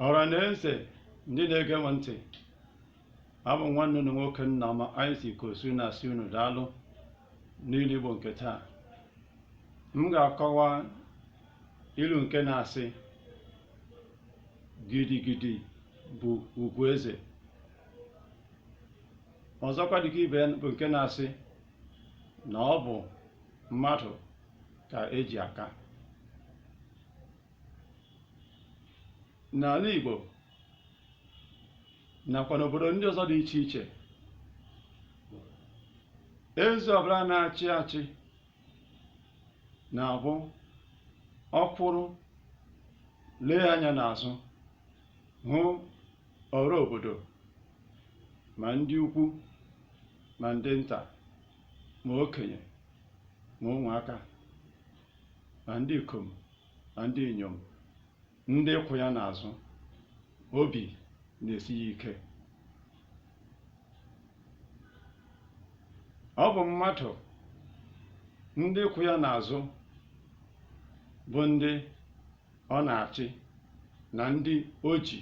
ọra na eze ndị na-ege m ntị abụ m nwanne unu nwoke Nnaọma Isaac Osu na-asị unu daalụ n'ilu Igbo nke taa m ga-akọwa ilu nke na-asị gidigidi bụ ugwu eze ọzọkwa dịka ibe ya bụ nke na-asị na ọ bụ mmadụ ka eji aka n'ala Igbo nakwa n'obodo ndị ọzọ dị iche iche eze ọbụla na-achị achị na-abụ ọ kwụrụ lee anya n'azụ hụ ọra obodo ma ndị ukwu ma ndị nta ma okenye ma ụmụaka na ndị ikom na ndị inyom ndị kwụ ya n'azụ obi na-esi ya ike ọ bụ mmadụ ndị kwụ ya n'azụ bụ ndị ọ na-achị na ndị o ji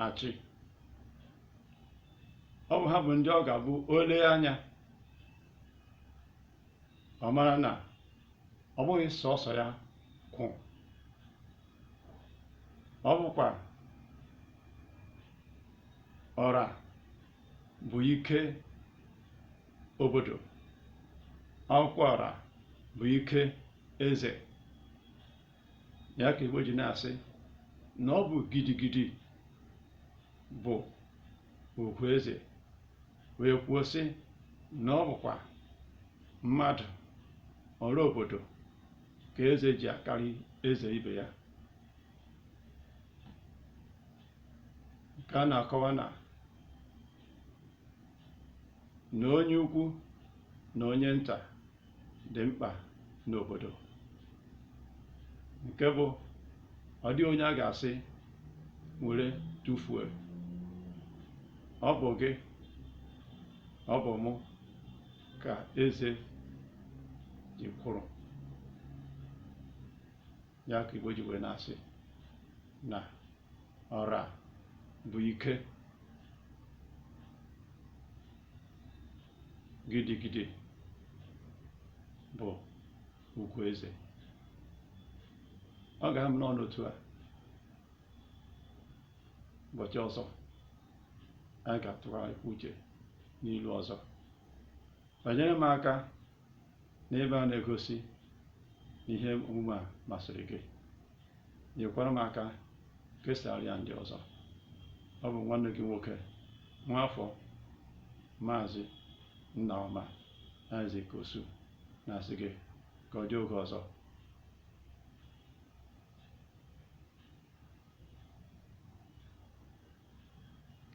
achị ọ bụ ha bụ ndị ọ ga-abụ o lee anya ọ mara na ọ bụghị sọsọ ya kwụ ọ bụkwa ọra bụ ike obodo ọ bụkwa ọra bụ ike eze ya ka Igbo ji na-asị na ọ bụ gidigidi bụ ugwu eze wee kwuo sị na ọ bụkwa mmadụ ọra obodo ka eze ji akarị eze ibe ya nke a na-akọwa na na onye ukwu na onye nta dị mkpa n'obodo nke bụ ọ dịghị onye a ga-asị were tụfuo ọ bụ gị ọ bụ mụ ka eze ji kwụrụ ya ka Igbo ji wee na-asị na ọra bụ ike gidigidi bụ ugwu eze ọ ga-aha m n'ọnụ otu a ụbọchị ọzọ anyị ga-atụgharịkwa uche n'ilu ọzọ banyere m aka N'ebe a na-egosi na ihe omume a masịrị gị, nyekwara m aka kesara ya ndị ọzọ. Ọ bụ nwanne gị nwoke, nwaafọ Maazị Nnaọma Isaac Osu na-asị gị ka ọ dị oge ọzọ.